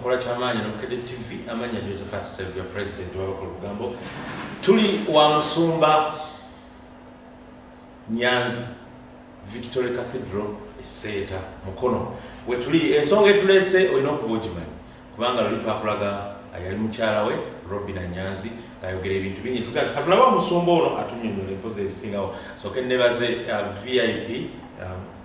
akola kyamaanyi nomukede tv amanya josephat servia president wabako lugambo tuli wa musumba nyanzi victory cathedral eseeta mukono wetuli ensonga etulese olina okuba ogimanyi kubanga luli twakulaga ayali mukyala we robina nyanzi ayogera ebintu bingi katulaba omusumba ono atunyonyola empozi ebisingawo soke nebaze uh, vip um,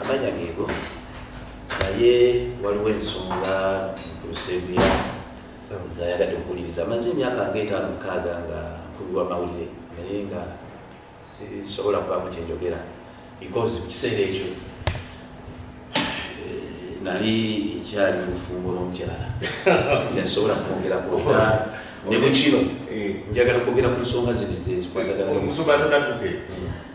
Amanya geego naye waliwo ensonga nkulusebya zayagadde okuwuliriza amaze emyaka nga etaano mukaaga nga nkubirwa mawulire naye nga sisobola kubamu kyenjogera because mu kiseera ekyo eh, nali nkyali mufumbo n'omukyala nasobola kumwogera kuoga ne mukino eh. njagala kwogera ku nsonga zino ezezikwatagana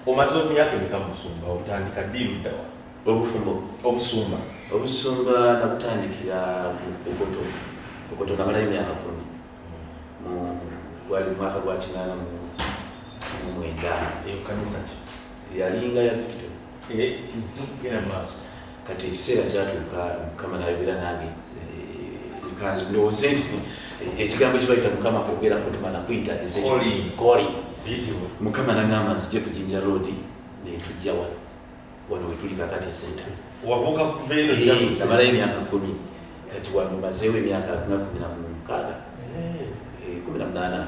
omaze omyaka emeka musumba otandika ddi luddawa obufumo obusumba obusumba nabutandikira bukoto bukoto namalayo emyaka kumi gwali mumwaka gwa kinaana mu mwenda eyo kanisa ki yalinga ya victor eh, genda maaso kati ekiseera kyatuuka mukama nayogera nange eh, kanzi ndowooze nti eh, ekigambo kibayita mukama kwogera kutuma nakuyita koli mukama nagamba nzije ku jinja roodi netujja wano wano wetuli kakati esenta namalayo emyaka kumi kati wano mazeewo emyaka nga kumi na mukaaga eh. kumi na munaana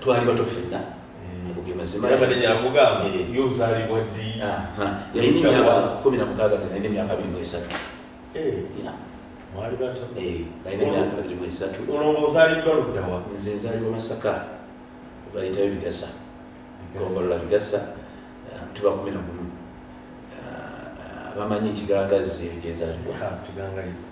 twali bato fenna nzenzalibwa masaka bayitayo bigasa gombolola bigasa eh, tuba kumi nagumu eh, abamanyi ekigangazzi ekyezalibwa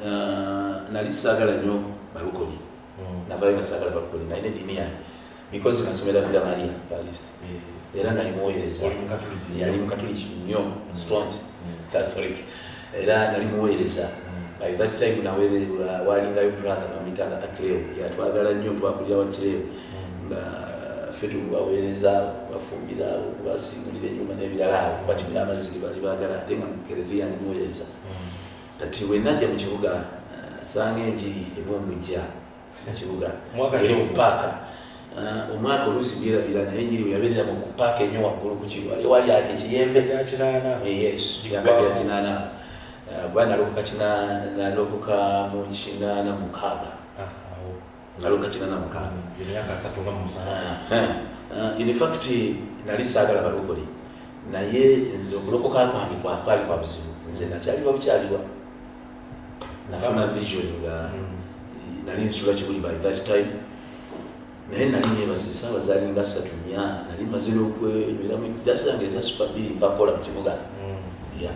Uh, nali saagala nnyo balukoni hmm. navayo nga saagala balukoni nalina eddiini yange because nasomera vira maria paris hmm. era nali muweereza yali mukatuliki nnyo hmm. strong catholic era nali muweereza by that time naweererwa walingayo brother bamitanga akleo yatwagala nnyo twakulira wakireo nga ffe tubaweereza bafumbira okubasimulira enyuma n'ebirala awo bakimira amazzi gebali baagala ate nga mukereziya ndi muweereza Kati bwe najja mu kibuga sanga enjiri ebumbujja mu kibuga eri mu paaka uh, omwaka oluusi byerabira naye enjiri bwe yabeerera mu paaka enyo waggulu ku kiwali ekiyembe yakinaana kuba nalokoka mu kinaana mukaaga naloka kina na mukana ya kasatu nga musana ha eh, eh, in fact nali sagala balokole naye nze okulokoka kwange kwa kwali kwa buzibu nze nakyali wa bukyali wa nafuna vision nga mm. nali nsula kibuli by that time naye nali nebasa esaawa zali nga satu nya nali maze n'okwenyweramu ekidasi yange eza supa bbiri nva kukola mu kibuga mm. ya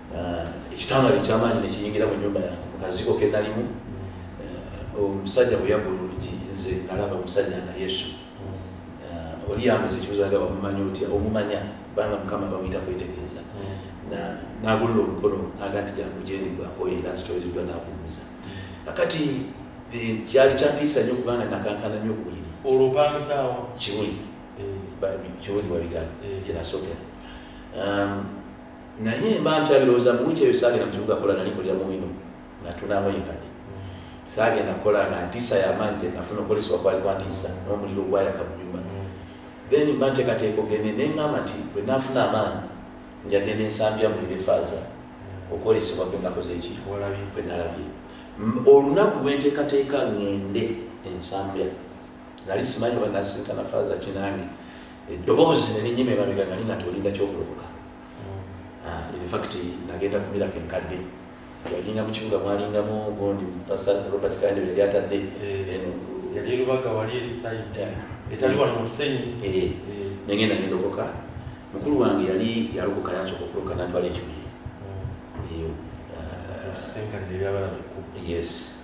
Ah, ekitangaala ekyamaanyi nekiyingira mu nyumba yange mukazigo kenalimu ah, omusajja bweyagula olugi nze nalaba omusajja nga yesu ah, oli yambuza ekibuzo nga bamumanyi otya omumanya banga mukama bamuyita kwetegeeza nagulula omukono aga nti jangu gyendigwakoyo era zitoereddwa navumuza akati eh, kyali kyatiisa nyo kubanga nakankana nyo kubuliri olubanzaawo kiwuli eh. kiwuli wabigala eh. yenasookera um, naye mba nkyabirowooza mu wiiki eyo saagenda mu kibuga kukola nali nkolera mu wino natunamu enkade saagenda kukola nga ntiisa yamaanyi gye nafuna okolesebwa kwali kwa ntiisa n'omuliro ogwayaka mu nyumba then mba nteekateeka ogende ne ngamba nti bwe nafuna amaanyi njagenda ensambya mulire faaza okwolesebwa kwe nakoze eki kwe nalabye olunaku lwenteekateeka ngende ensambya nali simanyi oba nasinkana faaza kinange eddoboozi ne linyima emabega nga linga tolinda kyokulokoka hmm. ah, infact nagenda kumirako enkadde yalinga mu kibuga mwalingamu gundi pasta robert kande yali atadde eh, eno yali erubaga wali erisayi etali wali mu kisenyi eh, eh. nengenda nendokoka mukulu wange yali yalokoka yansoka okuloka natwala ekibuye hmm. ah, yes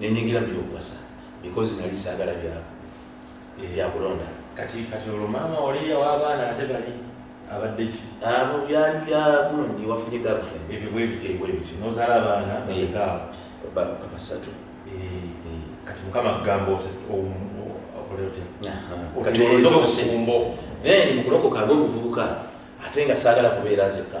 nenyingira mubyokubasa because nali sagala byako eh. byakulonda kati kati olwo maama wali awabaana ate bali abadde ki abo ah, byali bya gundi wafunye girlfriend ebyo bwe bityo bwe bityo nozala abaana beka eh. ba basatu eh. kati mukama kugamba ose okoleote kati olwo ndo kusimbo then mukulokoka abo obuvubuka ate nga sagala kubeera nzekka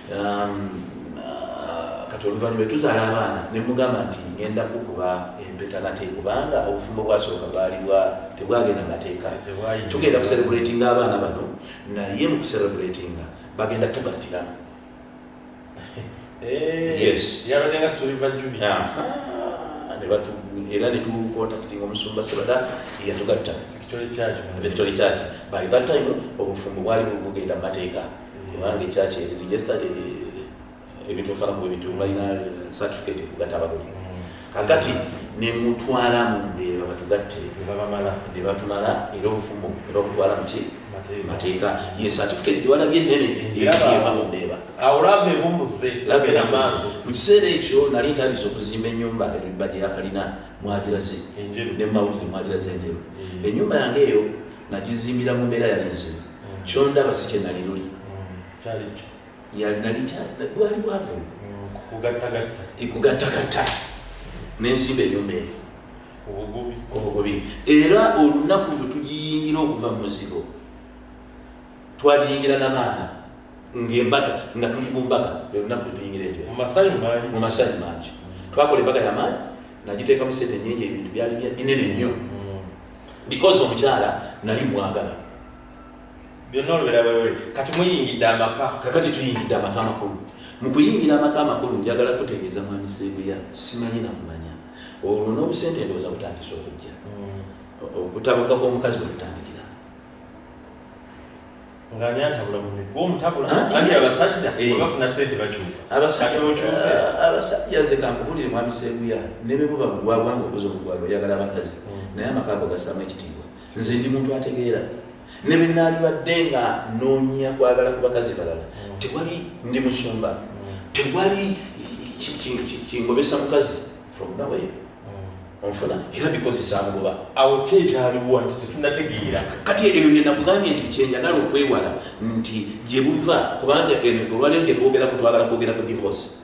um, uh, kati oluvannyuma tuzaala abaana ne mugamba nti ngenda kukuba empeta nate kubanga obufumbo bwasooka bwali bwa tebwagenda mateeka tugenda kuserebulatinga abaana bano naye mu kuserebulatinga bagenda tugattira eh, yes yabadenga suliva juni era netukontaktinga omusumba sebada yatugatta victory church by that time obufumbo bwali bugenda mu mateeka kubanga ekyaki eri registered ebintu bifana kuba ebintu balina certificate okugata abagole mm. kakati nemutwala mundeba batugatte nebatumala era obufumo nebabutwala muki mateeka ye certificate gyewalabye nene eva mundeba mu kiseera ekyo nali ntandisa okuzimba enyumba ebibba gyeyakalina mwagiraze nemawulire mwagiraze enjeru mm. enyumba yange eyo nagizimbira mu mbeera yali nzibu kyondaba si kyenali luli bwali bwavu ikugattagatta nensimba enyumba eyo obugobi era olunaku lwe tugiyingira okuva mu muzigo twagiyingira nabaana ngaembaga nga tuli mu mbaga olunaku lwetuyingira ejo mu masanyu mangi twakola embaga yamaanyi nagiteekamu sente nyingi ebintu byali binene nnyo mm. because omukyala nali mwagala byonna olubera wewe kati muyingidde amaka kakati tuyingidde amaka amakulu mu kuyingira amaka amakulu njagala kutegeeza mwami seeguya simanyi nakumanya olwo n'obusente ndowooza butandisa okujja mm. okutabuka kw'omukazi bwe kutandikira nga ani atabula mumigwa omutabula ah, anti eh. abasajja eh. webafuna sente bakyuka abasajja nze kankubulire mwami seeguya ne bwe buba bugwagwa nga obuza obugwagwa oyagala abakazi mm. naye amaka ago gasaamu ekitiibwa nze ndi muntu ategeera ne bwe naalibadde nga noonya kwagala ku bakazi balala mm. tewali ndi musumba mm. tewali kingobesa mukazi from nawe mm. onfuna era bikozi zangoba awo kyekyaliwo nti tetunategeera kati ebyo byenakugambye nti kyenjagala okwewala nti gye buva kubanga olwalero gyetwogerako twagala kwogera ku divorce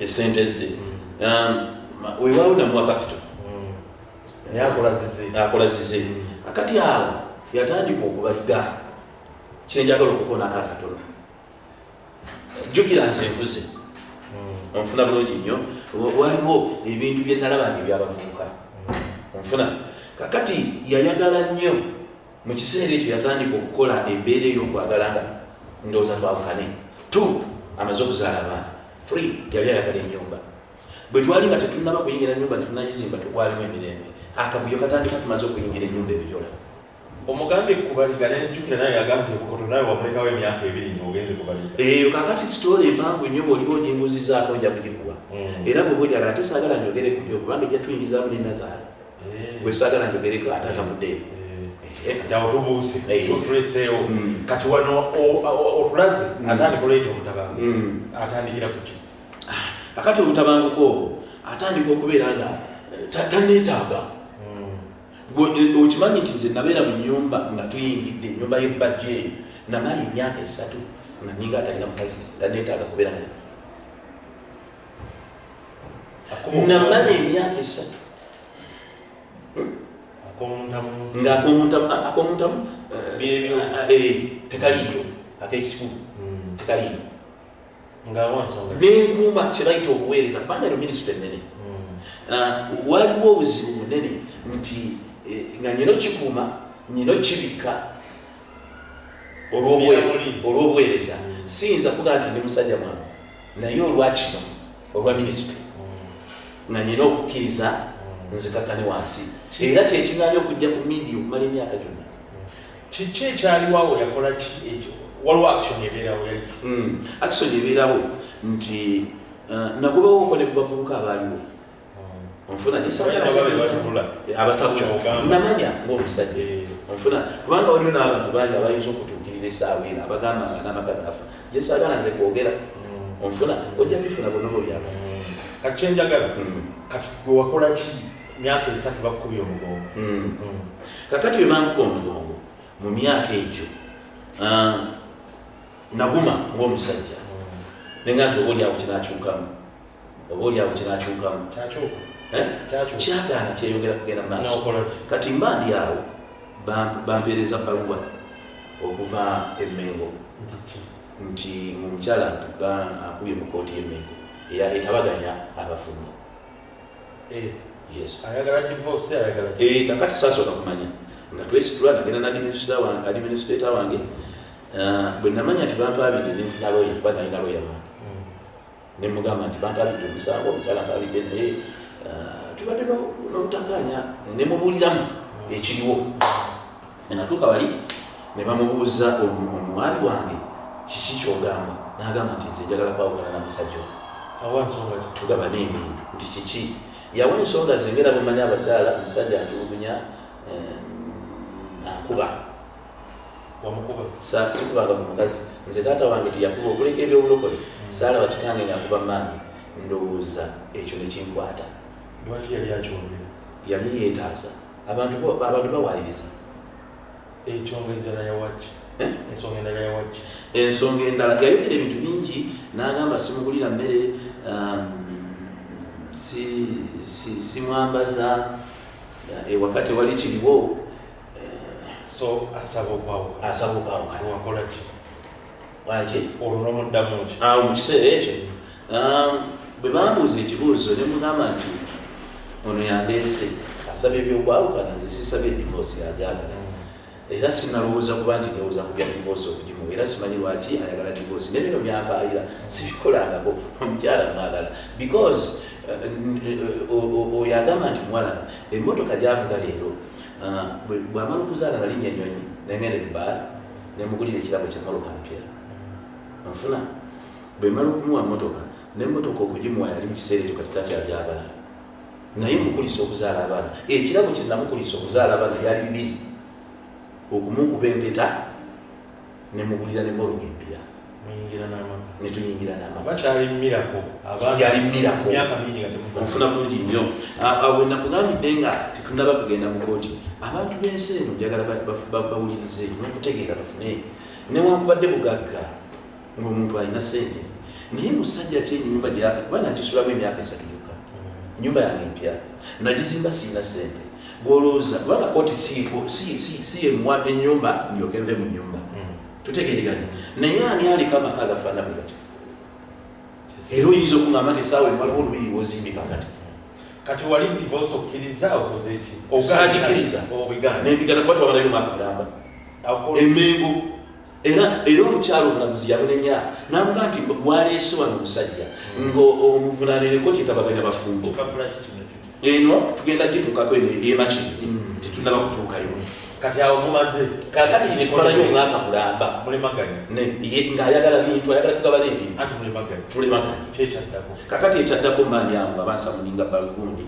esente ze wewaawo namuwa kapito akola zize akati awo yatandika okubaliga kyenjagala okukonako akatono jukira nze nkuze hmm. onfuna bulungi nnyo waliwo ebintu byenalaba nga ebyabavubuka hmm. onfuna kakati yayagala nnyo Mu kiseera ekyo yatandika okukola embeera ey'okwagala nga ndowooza twawukane. Two, amaze okuzaala abaana. Three, yali ayagala ennyumba. Bwe twali nga tetunnaba kuyingira nnyumba tetunnagizimba tekwalimu emirembe. Akavuyo katandika tumaze okuyingira ennyumba ebijola. Omugambye ku baliga ne nzijukira naye yagambye obukoto nawe wamulekawo emyaka ebiri nga ogenze ku baliga. Eyo kakati sitoola empanvu nnyo bw'oliba oginguzizaako nja kugikuwa. Mm. Era bw'oba ojagala ate saagala njogere ku mpewo kubanga ejja tuyingizaamu ne nazaala. eh. gwe saagala njogereko ate atavuddeyo eh. jawo tubuuse tutuleseewo mm. kati wano otulaze mm. atandika oleeta omutabangu mm. atandikira kuki ah, akati omutabanguko obwo atandika okubeera nga tanetaaga okimanyi nti nze nabeera mu nyumba nga tuyingidde enyumba y'ebbajja eyo namala emyaka esatu nga ninga atalina mukazi tanetaaga kubeera naye namala emyaka esatu ngaakomuntamu tekaliyo akekisikulu tekaliyo nenkuuma kyebayita obuweereza kubanga eno minisita enene waliwo obuzibu bunene nti nga nyina okikuuma nyina okibikka olw'obuweereza siyinza kuga nti ndi musajja mwange naye olwakino olwa minisitule nga nina okukkiriza nzikakane wansi era kyekigaanya okujja ku midia okumala emyaka gyonna kiki ekyaliwawo yakola ki ekyo waliwo action ebeerawo yali hmm. action ebeerawo nti uh, nagobawooko ne ku bavubuka abaaliwo onfuna nyesaabatabulanamanya ngaomusajja onfuna kubanga waliwo n'abantu bangi abayinza okutuukirira esaawa eno abagamba nga n'amaka gafa gyesaagala nze kwogera onfuna ojja bifuna bonobo byaba kati kyenjagala kati gwewakola ki myaka esatu bakukubya omugongo kakati webankuba omugongo mu myaka egyo naguma ngaomusajja nenga nti oba olyawo kinakyukamu oba oli awo kinakyukamu kyagaana kyeyongera kugenda maaso kati mba ndi awo bampeereza baluwa okuva emengo nti omukyala akubye mu kooti yemengo etabaganya abafumbo eh. eh, kakati sasooka kumanya nga twesitula nagenda nadiminisitata wange ah, bwenamanya nti bampaabidde nenfuna loya kuba nalina loya wange ne mugamba nti bantabidde omusango omukyala ntabidde naye uh, tubadde nobutakaanya nemubuuliramu ekiriwo enatuuka bali ne bamubuuza omwami wange kiki kyogamba nagamba nti nze njagala kwawukana na musajja tugaba neebintu nti kiki yawa ensonga zengera bumanya abakyala omusajja ntulugunya akuba wamukuba sa sikubanga ku mukazi nze taata wange teyakuba okuleka ebyobulokole saala bakitange ngakuba maami ndowooza ekyo nekinkwata lwaki yali akyogera yali yetaasa abantu abantu bawayiriza ekyonga endala yawaki eh? ensonga endala yawaki ensonga endala yayogera ebintu bingi nagamba simugulira mmere um, simwambaza eh, ewaka tewali kiriwo so asaba okwawuka asaba okwawuka wakola ki waki olwo nomuddamu ki awo mu kiseera ekyo um, bwe bambuuza ekibuuzo ne mugamba nti ono yandeese asaba ebyokwawukana nze sisabye divorce yajagala era sinalowooza kuba nti ndowooza ku bya divorce okugimu era simanyi lwaki ayagala divorce ne bino byampaayira sibikolangako omukyala mwagala because uh, uh, uh, oyo agamba nti mwalana emmotoka gyavuga leero Ah, bwamala okuzaala nalinya enyonyi nengenda ebaala nemugulira ekirabo kyemotoka mpya nfuna bwemala okumuwa motoka nemotoka okugimuwa yali mukiseera ekyo katitakyajagala naye mukulisa okuzaala abaana ekirabo kyenamukulisa okuzaala abaana byali bibiri okumukuba empeta ne mugulira ne moroga empya netuyingira namakyalimirakoyalimirako bulungi nnyo awe nakugambidde nga tetunaba kugenda mu kooti abantu b'ensi eno njagala bawulirize nokutegeera bafune newankubadde bugagga ngaomuntu alina sente naye musajja ki enyumba gyaka kuba nakisulamu emyaka esatu yokka nyumba yange empya nagizimba siina sente Gwolowooza kubanga kooti si yemuwa enyumba ndyoke nve mu nyumba hmm. tutegereganye naye ani aliko amaka agafaana bwe gati era oyinza okugamba nti esaawa emaliwo olubiri wozimbika gati kati wali divorce okkiriza okoze eki osagikiriza obigana nebigana kuba twabalayo omwaka mulamba emengo era era omukyalo omulamuzi yamunenya namuga nti gwaleese wano omusajja ngaomuvunaaneneko kyetabaganya bafumbo eno tugenda gituukako eno emakini hmm. tetunaba kutuukayo kati awo mumaze kakati netwalayo omwaka mulamba ngaayagala bintu ayagala tugabana ebintutulemaganyekyaddako kakati ekyaddako maani awo abansamuninga balugundi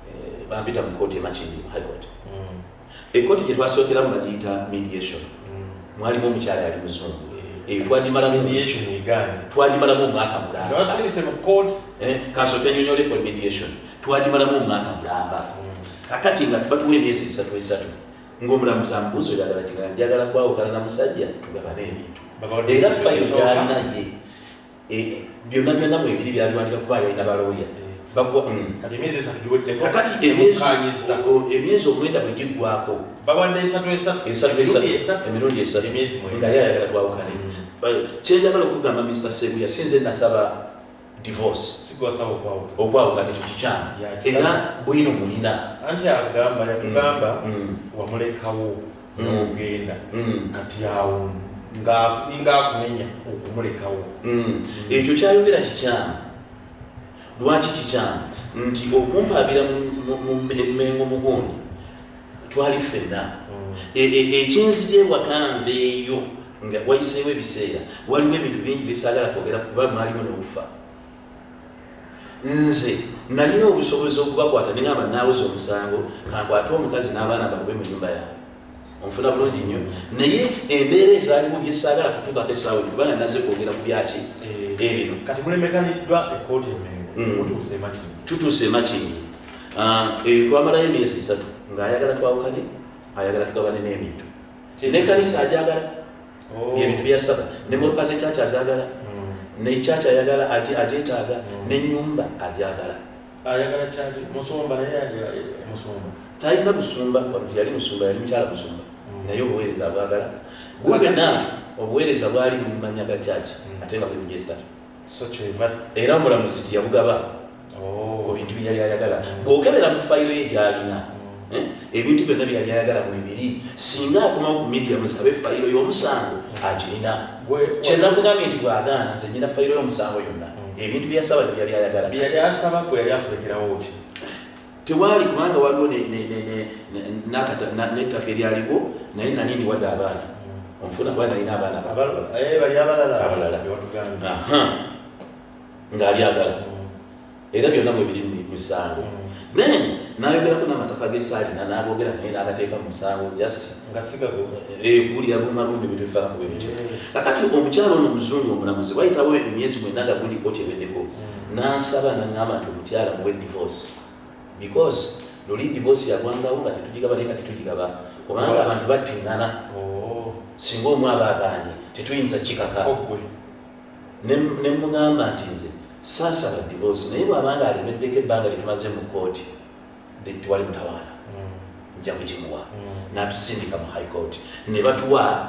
eh, bampita mu kooti emakini high court hmm. Ekkooti gye twasookeramu bagiyita mediation, mm. mwalimu omukyala yali muzungu eyo twagimalamu mediation egaanye twagimalamu omwaka mulamba basirise mu court eh kaso tenyonyole ko mediation twagimalamu omwaka mulamba kakati nga batuwe emyezi esatu esatu ng'omulamuzi amubuuza oyagala kigala njagala kwawukana na musajja tugabane ebintu era fayiro gyalina ye Eh, byonna byonna mwebiri byaliwandika kuba yalina balooya kakati emyezi omwenda bwe giggwako emirundi esatu nga yayagala twawukane kyenjagala okugamba mr sebuya sinze nasaba divorce okwawukana ekyo kikyamu era bwino mulina anti agamba yatugamba mm, mm. wamulekawo nogenda mm. mm. kati awo ninga akunenya okumulekawo mm. ekyo kyayogera kikyamu lwaki kikyamu nti okumpaabira mumengo mugundi twali ffenna e, e, ekinzigyebwakanveeyo nga wayiseewo ebiseera waliwo ebintu bingi byesagala kwogera kuba mwalimu nobufa nze nalina obusobozi okubakwata nengamba naweza omusango kankwate omukazi n'abaana bakube mu nyumba yange onfuna bulungi nnyo naye embeera ezaaliwo gyesaagala kutuukako esaawa kubanga naze kwogera ku byaki eh, ebino kati mulemeganiddwa ekooti emengo hmm. mutuuse emakini tutuuse emakini ah, eyo eh, twamalayo emyezi esatu ng'ayagala twawukane ayagala tugabane n'ebintu nekanisa ajagala oh. byebintu byasaba nemoloka zekyakya azagala mm. nekyakya ayagala agyetaaga mm. nenyumba agyagala talina busumba yali musumba yali mukyala musumba mm. naye obuweereza abwagala good enough obuweereza bwali mumanya gakyaki ate nga buli mujesta era omulamuzi tiyamugaba oh. ku bintu byeyali ayagala bwokebera mu fayiro ye gyalina mm. eh, ebintu byonna byeyali ayagala mwebiri singa akomawo ku midia musabe fayiro y'omusango agirina kyenakugambye nti bwagaana nze nyina fayiro y'omusango yonna mm. ebintu byeyasaba tebyali ayagala tewaali kubanga waliwo nettaka eryaliwo naye nani ndiwadde abaana omufuna kuba nalina abaana abalala ngaali agala era byonna mwebiri musango then nayogerako namataka gesaalina nabogera naye nagateeka musango just kulira bumalumbi bitufaakubebityo kakati omukyalo ono muzungu omulamuzi wayitawo emyezi mwena nga gundi koti eweddeko nansaba nangamba nti omukyala muwe divorce because luli divorce yagwangawo nga tetugigaba naye kati tugigaba kubanga abantu battingana oh. singa omu aba agaanye tetuyinza kikaka nemugamba nti nze saasaba divorce naye bwabanga alemeddeko ebbanga lyetumaze mu kooti tewali mutawaana mm. nja kugimuwa mm. natusindika mu high court ne batuwa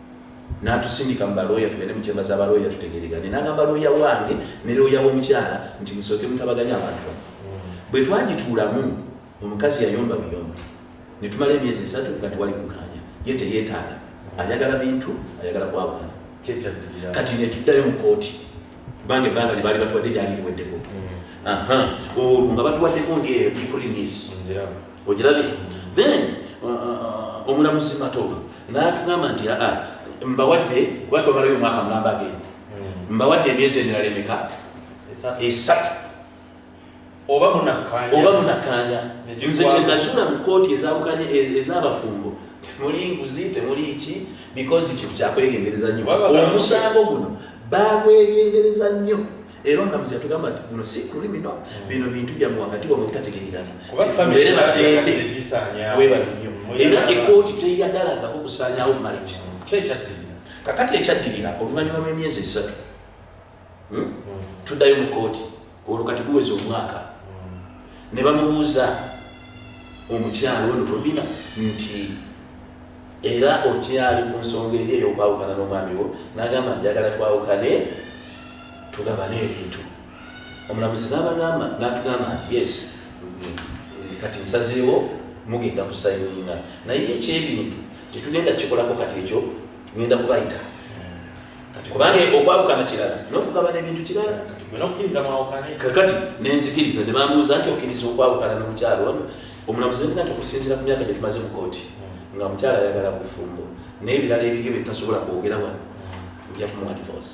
n'atusindika mu balooya tugende mu kyemba za balooya tutegeregane n'agamba looya wange ne looya w'omukyala nti musooke mutabaganya abantu bano bwe twagituulamu omukazi yayomba biyomba ne tumala emyezi esatu nga tewali kukaanya ye teyeetaaga ayagala bintu ayagala kwawaana kati ne tuddayo mu kooti kubanga ebbanga lye baali batuwadde lyali liweddeko mm. olwo nga batuwaddeko ndyekulinis ogirabye then uh, uh, uh, omulamuzi matova natugamba nti aa ah, mbawadde kuba twamalayo omwaka mulamba agenda hmm. mbawadde emyezi emirala emeka esatu oba munakanya nze kyenazula mu kooti ezawukanye e, ezabafumbo temuli nguzi temuli ki because kintu kyakwegendereza nnyo omusango guno bagwegendereza nnyo era omulamuzi yatugamba nti guno si kulimino hmm. bino bintu byamu wakati wamwe bitategeregana tubeere balende webale nnyo era ekooti teyagalangako kusaanyawo marriage kakati ekyaddirira oluvannyuma lw'emyezi esatu hmm? Hmm. tuddayo mu kooti olwo kati guweza omwaka ne bamubuuza omukyalo ono romina nti era okyali ku nsonga eri ey'okwawukana n'omwami wo n'agamba njagala twawukane tugabane ebintu omulamuzi nabagamba natugamba nti yes kati nsazeewo mugenda kusayininga naye ekyebintu tetugenda kikolako kati ekyo ngenda kubayita kati kubanga okwawukana kirala nokugabana ebintu kirala kakati nenzikiriza nebamuuza nti okiriza okwawukana nomukyalo ono omulamuzi nati okusinzira ku myaka gyetumaze mu kooti hmm. nga mukyalo ayagala bufumbo naye ebirala ebiryo byetasobola kwogera wano nja kumuwa divorce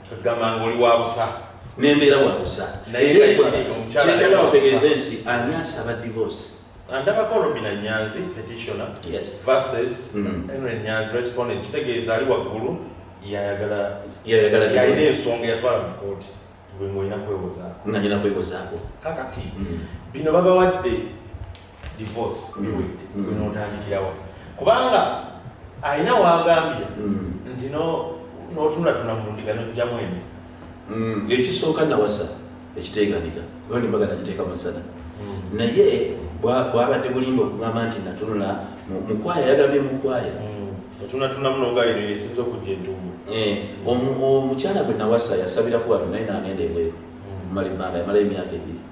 gamba nga oli wabusa nembeera wabusa nayekyendala otegeeza ensi ani asaba divorce andabako robina nyanzi petitioner yes. versus mm. henry nyanzi respondent kitegeeza ali waggulu yayagala yalina ensonga yatwala mu kooti gwe ngaolina kwewozaako nga nyina kwewozaako kakati mm. bino babawadde divorce iwe mm. gwe notandikirawa kubanga alina wagambye mm. nti notulatuna mulundiga nojjamu eno mm. ekisooka nawasa ekiteganika kuba nembaga nagiteeka musana naye bwabadde bulimba okugamba nti natunula mukwaya yagambye mukwaya eh, omukyala gwe nawasa yasabira kubano naye nagenda ebweru mumala ebbanga yamala emyaka ebiri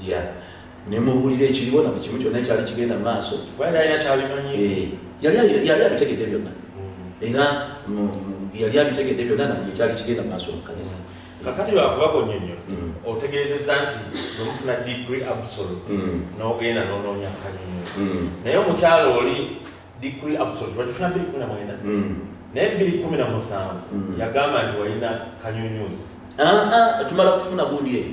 ya nemubulira ekiriwo na kimu kyonna ekyali kigenda mu maaso eh, yali abitegedde byonna mm. era yali abitegedde byonna na buli ekyali kigenda mu maaso mu kanisa kakati lwakubakonya nnyo mm. otegeezeza nti nomufuna degree absolute mm. nogenda nonoonya kanyonyo naye omukyalo oli degree absolute wagifuna biri kumi na mwenda naye biri kumi na musanvu yagamba nti walina kanyonyuzi ah, ah, tumala kufuna gundi eyo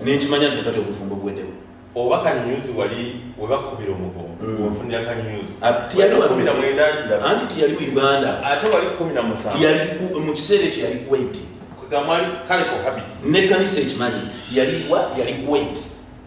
nenkimanya nti kati obufumbo buwedemu oba kanyuzi wali webakubira omugongo mm. ofunira kanyuzi anti tiyali mu uganda ate wali kumi na musanvu mu kiseera ekyo yali kuwait kale kohabiti nekanisa ekimanyi yaliwa yali kuwait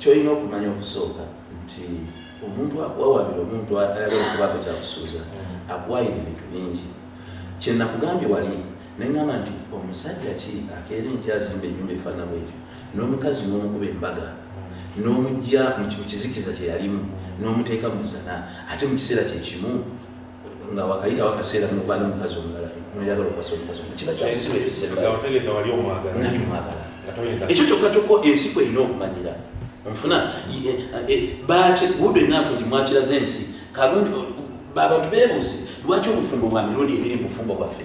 Kyolina okumanya okusooka nti omuntu akuwawabira omuntu ayagala okubaako kyakusuuza mm. akuwayira ebintu bingi kyenakugambye wali nengamba nti omusajja ki akeera enkyazimba enyumba efaana bwetyo n'omukazi n'omukuba embaga mm. n'omujja mu kizikiza kyeyalimu n'omuteeka mu zana ate mu kiseera kyekimu nga wakayita wakaseera nokwana omukazi omulala noyagala okwasa omukazi kiba kyaotegeeza wali omwagala nali mwagala ekyo kyokka kyokka ensi kweyina okumanyira nfuna eh, eh, eh, bakibuudo enafu nti mwakiraze ensi kabantu bebuuzi lwaki obufumbo bwa mirundi ebiri mubufumbo bwaffe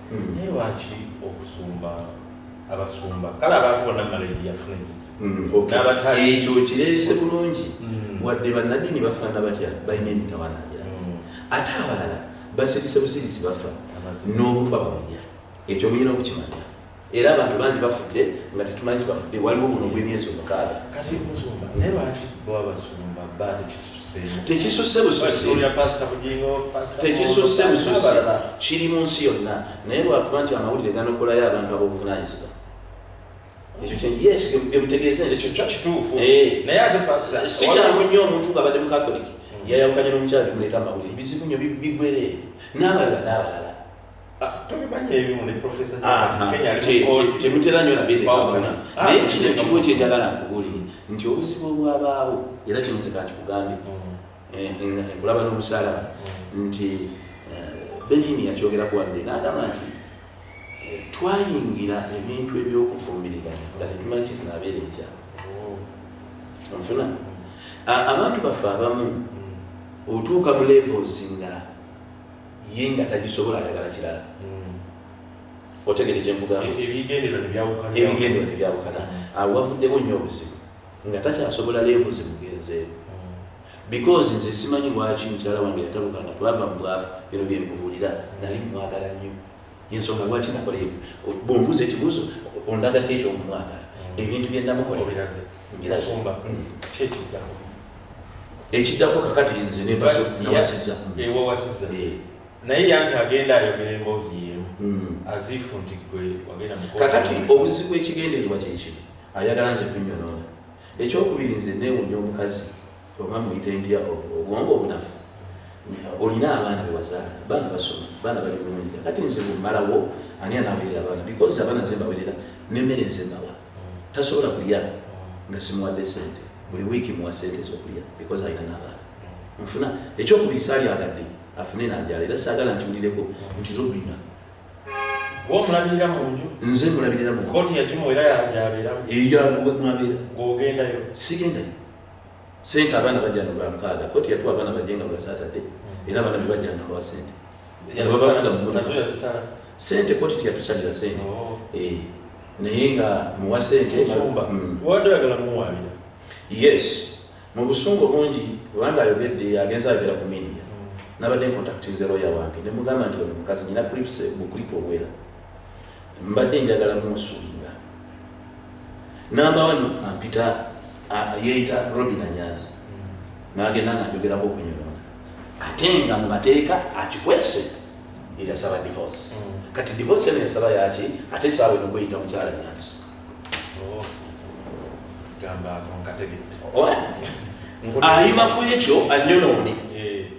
mm. naye lwaki okusumba abasumba kale abantu bonna malayidi yafuna ekizibuekyo mm, kireese bulungi mm. wadde bannaddiini bafaana batya balina emitawanangira mm. ate abalala basirise busirisi bafa n'obutwa bamulya ekyo muyina okukimanya era abantu bangi bafudde nga tetumanyi kibafudde waliwo muno gw'emyezi omukaaga kati musumba naye lwaki baba basumba batekis tekisusse bususi tekisusse bususi kiri mu nsi yonna naye lwakuba nti amawulire ganokolayo abantu ab'obuvunanyizibwa sikyangu nnyo omuntu ngaabadde mukatholik hmm. yayawukanye n'omukyala bimuleeta amawulire bizibu nyo bigweree n'abalala n'abalala temutera nyo nabyetekabana ah, naye kino ekimu kyenjagala nkubuulire nti obuzibu obwabaawo era kino zekakikugambye nkulaba mm. eh, n'omusalaba mm. nti eh, benini yakyogerako wadde nagamba nti eh, twayingira ebintu ebyokufumbirigana nga tetumanyi kyetunabeera ekya oh. nfuna abantu baffe abamu mm. otuuka mu levels nga ye nga tagisobola ayagala kirala hmm. otegere kyemugamba e, ebigendero nebyawukana awo wavuddewo nnyo obuzibu nga takyasobola leevu zimugenzeewo hmm. because nze simanyi lwaki mukyala wange yatabukanga twava mu bwavu bino byemubulira nali mwagala nnyo yensonga lwaki nakola ebyo bwombuuza ekibuuzo ondaga ki ekyo omumwagala mm. ebintu byenamukoleraze mbirasumba mm. kyekiddako ekiddako kakati nze nebasnawasiza ewawasiza eh, eh. naye yanti agenda ayogera emboozi yemu mm. azifu nti gwe wagenda kakati obuzibu ekigendererwa kyekino ayagala nze kunyonoona ekyokubiri nze newunya omukazi oba muyite ntya obwongo obunafu olina abaana bewazaala baana basoma baana bali bulungi kati nze bumalawo ani anawerera abaana because abaana nze mbawerera nemmere nze nawa tasobola kulya nga simuwadde sente buli wiiki muwa sente ezokulya because alina nabaana nfuna ekyokubiri salyagadde afune nanjala era sagala nkiwulireko nti robina omulabirira munju nze mulabirira mu koti yakimu era yabeera eyamubeera ogendayo sigendayo sente abaana bajana lwampaaga koti yatuwa abaana bajenga bwasatadde hmm. era abaana bebajana nabawa sente babafuga mumoto sente koti tiyatusalira sente oh. eh, naye nga muwa sente hmm. yes mu busungu bungi kubanga ayogedde agenza ayogera ku media hmm. nabadde nkontaktinze loya wange nemugamba nti ono mukazi nyina clips mu clip obwera mbadde njagala munsulinga namba wano ampita yeeyita robin anyanzi nagenda nga njogerako okunyonona ate nga mu mateeka akikwese eyasaba divorce mm. kati divorce eno yasaba yaki ate saawa eno kweyita mukyala nyanzi oh. ayima ku ekyo anyonoone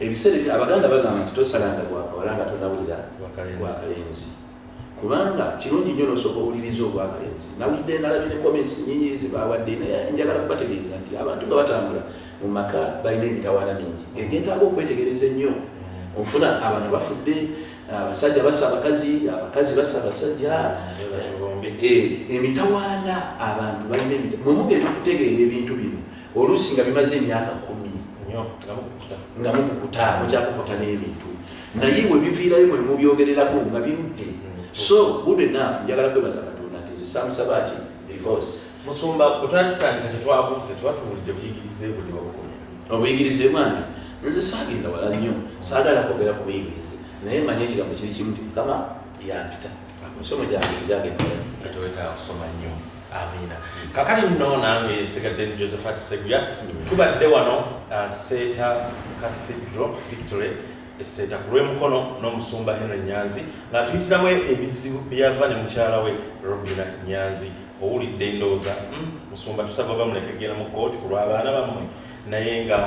ebiseera ebyo abaganda bagamba nti tosalanga gwakawala nga tonawulira gwakalenzi kubanga kirungi nnyo nosooka owuliriza ogwakalenzi nawulidde nalabye ne comments nyingi zebawadde naye njagala kubategeeza nti abantu nga batambula mu maka balina emitawaana mingi egyetaaga okwetegereza ennyo ofuna abantu bafudde abasajja basa abakazi abakazi basa abasajja eh, emitawaana abantu balina emita mwemugeera okutegeera ebintu bino oluusi nga bimaze emyaka kumi nga mukukuta mukyakukuta n'ebintu naye we biviirayo mwe mubyogererako nga birudde mm. so good enough njagala kwebaza katonda nti zisamusaba ki divorce musumba kutandikandika tetwabuuze tuba tuwulidde buyigirize buli wabukomi obuyigirize mwana nze saagenda wala nnyo saagala kwogera ku buyigirize naye manya ekigambo kiri kimu ti mukama yampita Emisomo gyange gyagenda ate wetaaga kusoma nnyo. Amiina. Kakati nno nange nsigadde ni Josephat Seguya. Tubadde wano uh, Seeta Cathedral Victory eseeta ku lw'emukono n'omusumba Henry Nyanzi ng'atuyitiramu ebizibu byava ne mukyala we Robina Nyanzi owulidde endowooza hmm, musumba tusaba bamuleke genda mu kooti ku lw'abaana bammwe naye nga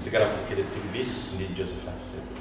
sigala ku Kere TV ndi Josephat Seguya.